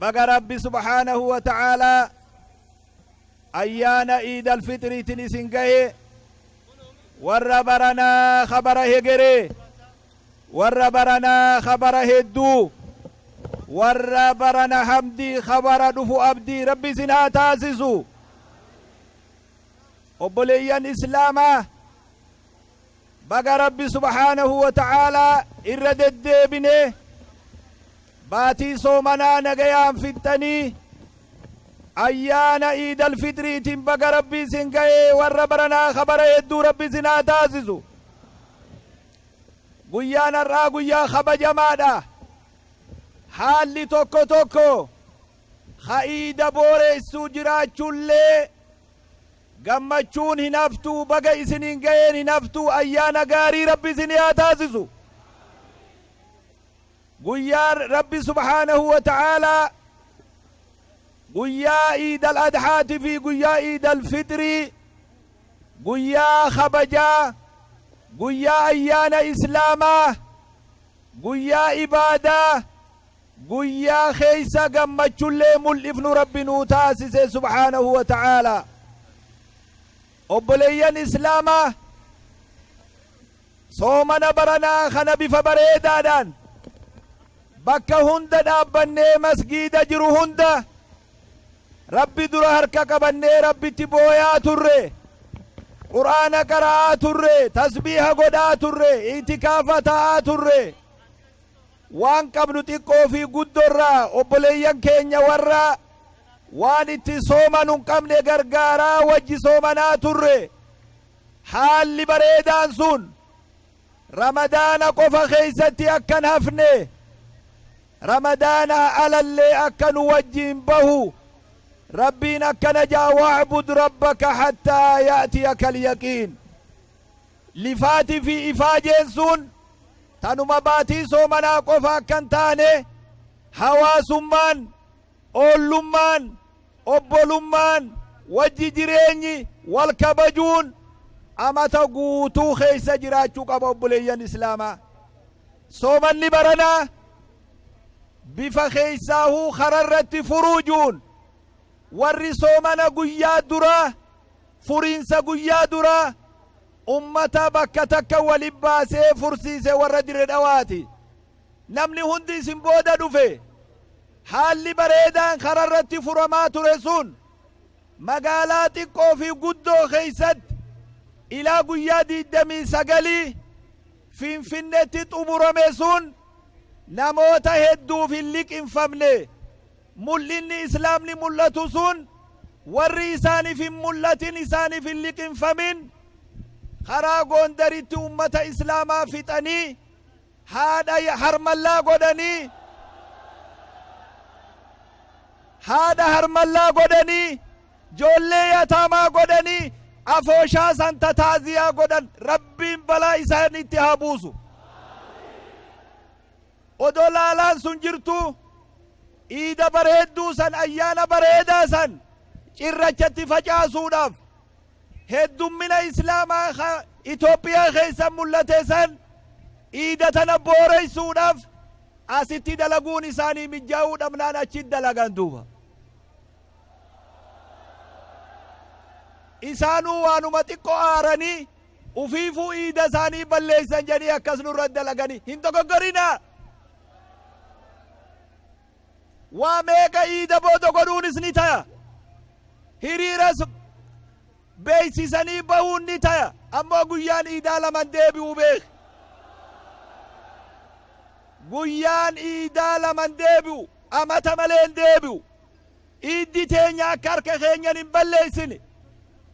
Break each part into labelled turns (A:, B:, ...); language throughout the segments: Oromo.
A: baga rabbi subhaanahu wa ta'aalaa ayyaana iid alfixiriitin isin gahe warra baranaa ka bara hegeree warra baranaa ka bara hedduu warra barana hamdii ka bara dhufu abdii rabbi isin haa taasisu obboleeyyan islaamaa Baga Rabbi subhaanahu wa ta'aalaa irra deddeebinee baatii soomanaa nagayaan fixxanii ayyaana iidal fitriitiin baga Rabbi isin gahe warra baranaa ka bara hedduu Rabbi isin haa taasisu. Guyyaan har'aa guyyaa kabajamaadha. Haalli tokko tokko ka iida booreessuu jiraachuullee Gammachuun hinaftuu baga isiniin ga'een hinaftuu ayyaana gaarii rabbi isinii haa taasisu guyyaan rabbi subhaanahu wa ta'aalaa guyyaa iidal adhaati fi guyyaa iidal fixrii guyyaa kabajaa guyyaa ayyaana islaamaa guyyaa ibaadaa Guyyaa keessa gammachullee mul'ifnu Rabbi nuu taasise subhaanahu wa ta'aalaa. Obboleeyyan Islaamaa soomana baranaa kana bifa bareedaadhaan bakka hunda dhaabbannee masgiida jiru hunda Rabbi dura harka qabannee Rabbitti booyaa turre. Qur'aana qara'aa turre, tasbiiha godhaa turre, itikaafa ta'aa turre. Waan qabnu xiqqoo fi guddo irraa obboleeyyan keenya warra waan ittiin soomanu hin qabne gargaaraa wajji soomanaa turre. Haalli bareedaan sun Ramadaana qofa keessatti akka hin hafne, Ramadaanaa alallee akka nu wajjiin bahu Rabbiin akkana jedha, Wa'bud rabbaka hattaa ya'tiyakal yaqiin. Lifaati fi ifaajeen sun tanuma baatii soomanaa qofa akka hin taane hawaasummaan, oollummaan, obbolummaan, wajji jireenyi, wal kabajuun amata guutuu keessa jiraachuu qaba obboleeyyan Islaamaa. Soomanni baranaa bifa keessaahuu kararratti furuujuun warri soomana guyyaa duraa Furiinsa guyyaa dura ummata bakka takka wali baasee fursiise warra Dire Dhawaati. Namni hundi isin booda dhufe. Haalli bareedaan karaa irratti furamaa ture sun magaalaa xiqqoo fi guddoo keessatti ilaa guyyaa 29 Finfinneetti xumurame sun namoota hedduuf hin liqinfamne. Mul'inni Islaamni mul'atu sun warri isaaniif hin mul'atin, isaaniif hin liqimfamin, karaa Goondaritti ummata Islaamaa fixanii, haadha harmallaa godhanii, haadha harmallaa godhanii, joollee yataamaa godhanii, afooshaa santa taaziyaa godhan, Rabbiin balaa isaanitti haa buusu. Odoo laalaan sun jirtuu iida bareedduu san, ayyaana bareedaa san cirracha itti facaasuudhaaf heddummina Islaamaa ka Itoophiyaa keessa mul'ate san iida tana booreessuudhaaf asitti dalaguun isaanii mijjaawuu dhabnaan achitti dalagan duuba. Isaanuu waanuma xiqqoo aaranii Ufiifuu iida isaanii balleessan jedhanii akkas nurra dalaganii hin dogoggorinaa! Waa meeqa iida booda godhuunis ni taya. Hiriiras beeksisanii bahuun ni taya. Ammoo guyyaan iidaa laman deebi'u beeki. Guyyaan iidaa laman deebi'u amata malee hin deebi'u. Iddi teenya akka harka keenyan hin balleessine.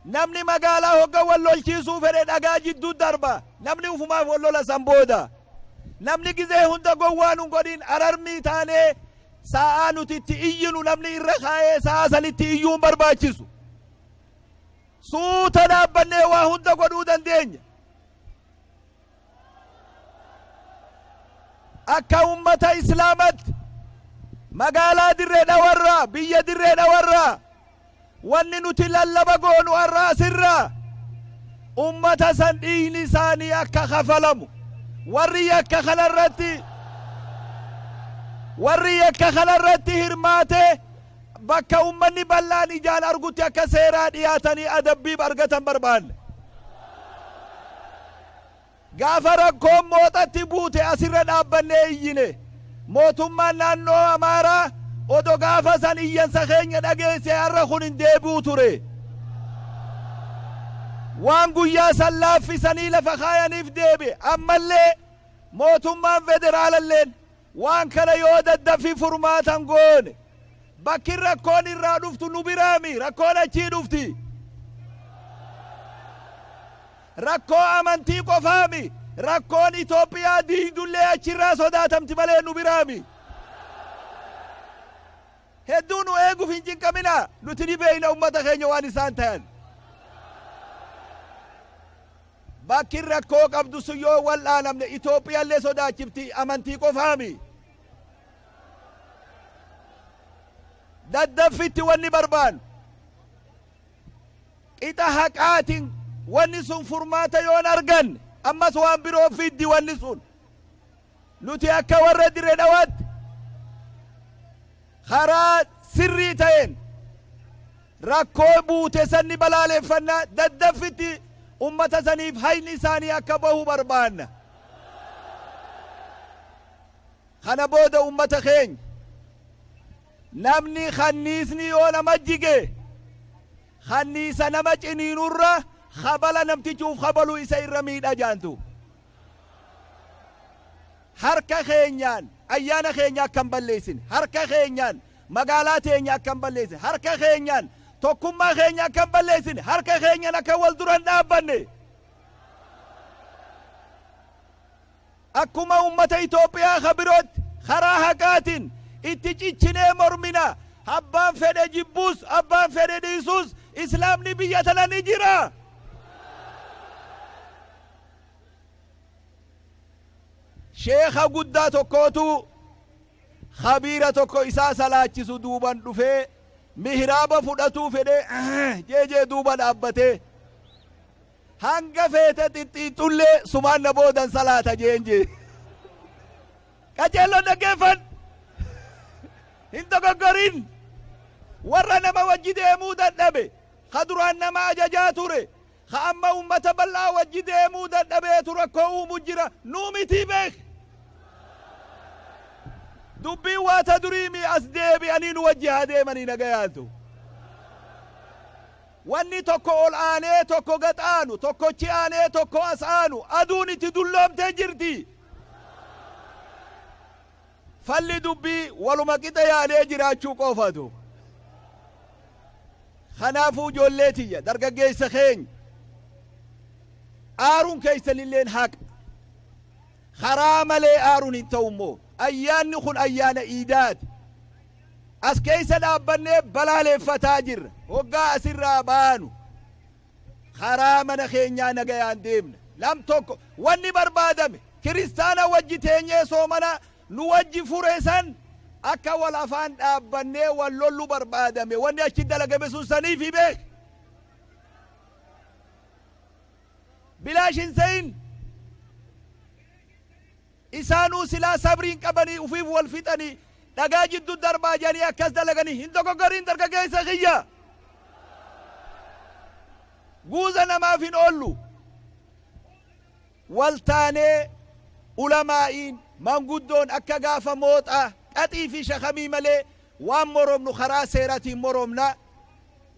A: Namni magaalaa hogga wal lolchiisuu fedhe dhagaa jiddu darba. Namni ufumaaf wal lola san booda. Namni gizee hunda gowwaa nun godhin ararmii taanee saa'aa nuti itti iyyinu namni irra kaayee saa'aa sanitti iyyuu hin barbaachisu. Suuta dhaabbannee waa hunda godhuu dandeenya. akka ummata islaamatti magaalaa dirree dhawarraa biyya dirree dhawarraa wanni nuti lallaba goonu har'a asirraa ummata san dhiigni isaanii akka kafalamu warri yakka kanarratti warri yakka kanarratti hirmaatee Bakka ummanni bal'aan ijaan argutti akka seeraa dhiyaatanii adabbiif argatan barbaanna. Gaafa rakkoon Mooxatti buute asirra dhaabbannee iyyine. Mootummaan naannoo Amaaraa odo gaafa san iyyansa keenya dhageesse har'a kun hin deebi'u ture. Waan guyyaa san laaffisanii lafa kaayaniif deebi'e. Ammallee mootummaan federaalalleen Waan kana yoo daddaffi furmaata hin goone, bakki rakkoon irraa dhuftu nu biraa mi, rakkoon achii dhufti. Rakkoo amantii qofaa mi, rakkoon Itoophiyaa diigdu illee achirraa sodaatamti malee nu biraa mi. Hedduu nu eeguuf hin cinqaminaa, nuti ni beekna ummata keenya waan isaan tayan. Bakki rakkoo qabdu sun yoo wal'aanamne Itoophiyallee sodaachifti amantii qofaami. Daddaffitti wanni barbaannu qixa haqaatiin wanni sun furmaata yoon arganne ammas waan biroo fiddi wanni sun. Nuti akka warra Dire Dhawaatti karaa sirrii ta'een rakkoo buute san ni balaaleffanna, daddaffitti ummata saniif hayni isaanii akka bahu barbaanna. Kana booda ummata keenya namni kanniisni yoo nama jige kanniisa nama ciniinurra kabala namtichuuf kabalu isa irra miidha jaantu. Harka keenyaan ayyaana keenya akka hin balleessine, harka keenyaan magaalaa teenya akka hin balleessine, harka keenyaan tokkummaa keenya akka hin balleessine, harka keenyaan akka wal dura hin dhaabbanne akkuma uummata Itoophiyaa ka birootti karaa haqaatiin itti cichinee mormina. Abbaan fedhe jibbuus, abbaan fedhe dhiisuus islaamni biyya tana ni jira. Sheekha guddaa tokkootu khabiira tokko isaa salaachisu duuban dhufee mihraaba fudhatuu fedhee jeejee duuba dhaabbatee hanga feete xixxiixxullee sumaan na boodan salaata jeen jee. Qajeelloon dhaggeeffan hin dogoggorin warra nama wajji deemuu dadhabe ka duraan nama ajajaa ture Ka amma ummata bal'aa wajji deemuu dadhabeetu rakkoo uumu jira. Nu mitii beekh! Dubbiin waa ta durii mii as deebi'anii nu wajji haa deemanii nagayaan tu. Wanni tokko ol aanee tokko gad aanu, tokkochi aanee tokko as aanu aduun itti dulloomtee jirti. Falli dubbii waluma qixa yaadee jiraachuu qofatu. Kanaafuu ijoollee tiyya dargaggeessa keenya aaruun keessanilleen haqa. Karaa malee aaruun hin ta'u immoo ayyaanni kun ayyaana iidaati. As keessa dhaabbannee balaaleeffataa jirra. Hoggaa asirraa baanu. Karaa mana keenyaa nagayaan deemna. Lam 1. Wanni barbaadame, kiristaana wajji teenyee soomana nu wajji fure san akka wal afaan dhaabbannee wal lollu barbaadame. Wanni achi dalagame sun saniifi beeki. Bilaash hin seyin. Isaanuu silaa sabrii hin qabanii ufiif wal fixanii dhagaa jiddu darbaa jedhanii akkas dalaganii hin dogoggoriin dargageessa kiyya. Guuza namaaf hin oollu. Wal taanee ulamaa'iin manguddoon akka gaafa mooxaa qaxii fi shakamii malee waan moromnu karaa seeratiin moromna.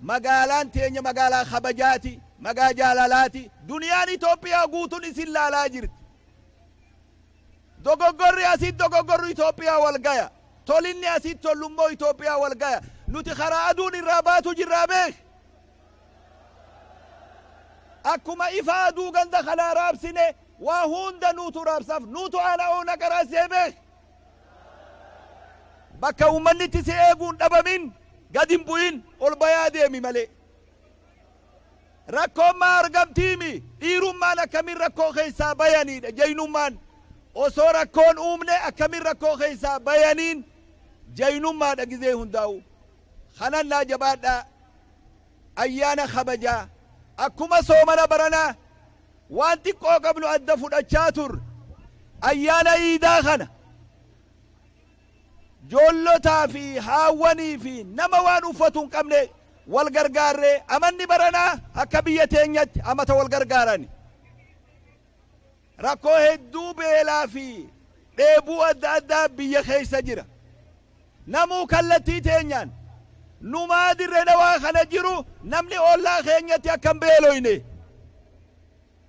A: Magaalaan teenya magaalaa kabajaati, magaa jaalalaati. Duniyaan Itoophiyaa guutun isin laalaa jirti. Dogoggorri asitti dogoggorru Itoophiyaa wal gaya. Tolinni asitti tollummoo Itoophiyaa wal gaya. Nuti karaa aduun irraa baatu jirraa beeki. Akkuma ifa aduu ganda kanaa raabsine waa hunda nuutu raabsaaf nuutu aana oona qaraas jee beeki. Bakka uummanni itti si eeguun dhabamin gad hin bu'in ol bayaa deemi malee. Rakkoon maa argamtiimi? Dhiirummaan akkamiin rakkoo keessaa bayaniidha? Jaynummaan osoo rakkoon uumne akkamiin rakkoo keessaa bayaniin jaynummaadha gizee hundaa'u. Kanannaa jabaadhaa ayyaana kabajaa akkuma soomana baranaa waan xiqqoo qabnu adda fudhachaa turre ayyaana iidaa kana Joollotaa fi haawwanii fi nama waan uffatu hin qabne wal gargaarree amanni baranaa akka biyya teenyatti amata wal gargaarani rakkoo hedduu beelaa fi dheebuu adda addaa biyya keessa jira. Namuu kallattii teenyaan numaa dirre dhawaa kana jiru namni ollaa keenyatti akka hin beeloyne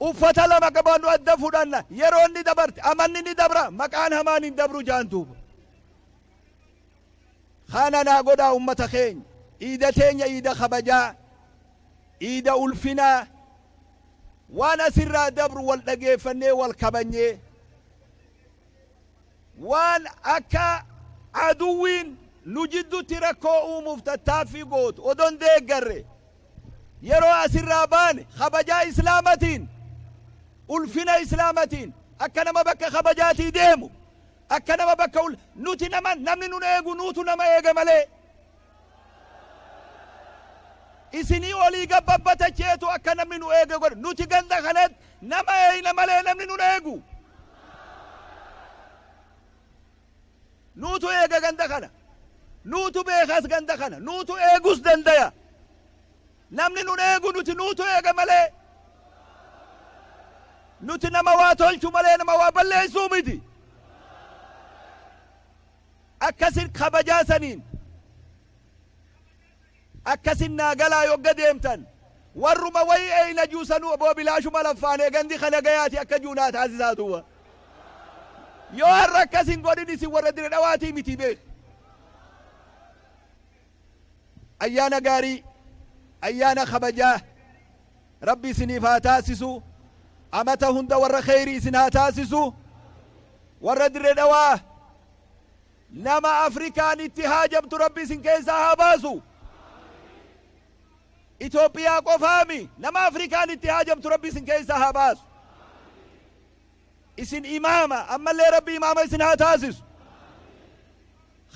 A: Uffata lama qabannu adda fudhanna. Yeroon ni dabarti, amanni ni dabra, maqaan hamaan hin dabru jaan duuba. Kana naa godhaa ummata keenya. Iida teenya iida kabajaa, iida ulfinaa, waan asirraa dabru wal dhageeffannee, wal kabanyee, waan akka aduwwiin nu jiddutti rakkoo uumuuf tattaaffii gootu odoo hin deeggarre yeroo asirraa baane kabajaa islaamatiin ulfina islaamatiin akka nama bakka kabajaatii deemu akka nama bakka nuti nama namni nun eegu nuutu nama eega malee Isinii olii gad babbatecheetu akka namni nu eege godha. Nuti ganda kanatti nama eeyna malee namni nun eegu. Nuutu eega ganda kana. Nuutu beekas ganda kana. Nuutu eegus dandaya. Namni nun eegu nuti nuutu eega malee. Nuti nama waa tolchu malee nama waa balleessuu miti. Akkasin kabajaa saniin akkasin naa galaa yogga deemtan warruma wayii eeyna juu sanuu oboo bilaashuma laffaanee gandi ka nagayaati akka juu naa taasisaa duuba yoo har'a akkas hin godhin isin warra Dire Dhawaatii miti beeki. Ayyaana gaarii, Ayyaana kabajaa Rabbi isiniif haa taasisu, Amata hunda warra kheeyrii isin haa taasisu, Warra Dirre Dhawaa nama Afrikaan itti haajamtu Rabbi isin keessaa haa baasu, Itoophiyaa qofaa mi nama Afrikaan itti haajamtu Rabbi isin keessaa haa baasu, Isin Imaama, ammallee Rabbi Imaama isin haa taasisu.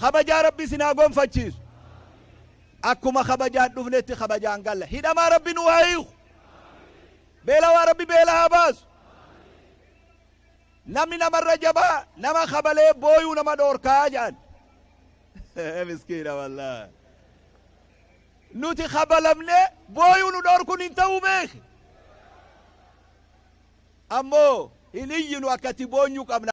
A: Kabajaa rabbi isin haa gonfachiisu akkuma kabajaan dhufnetti kabajaan galla hidhamaa rabbi nuu haa hiiku beelawaa rabbi beela haa baasu namni namarra jabaa nama kabalee booyuu nama dhoorkaa jedhan miskiina wallaa nuti kabalamne booyuu nu dhoorkun hin ta'uu beeki ammoo hin iyyinu akkatti boonyu qabna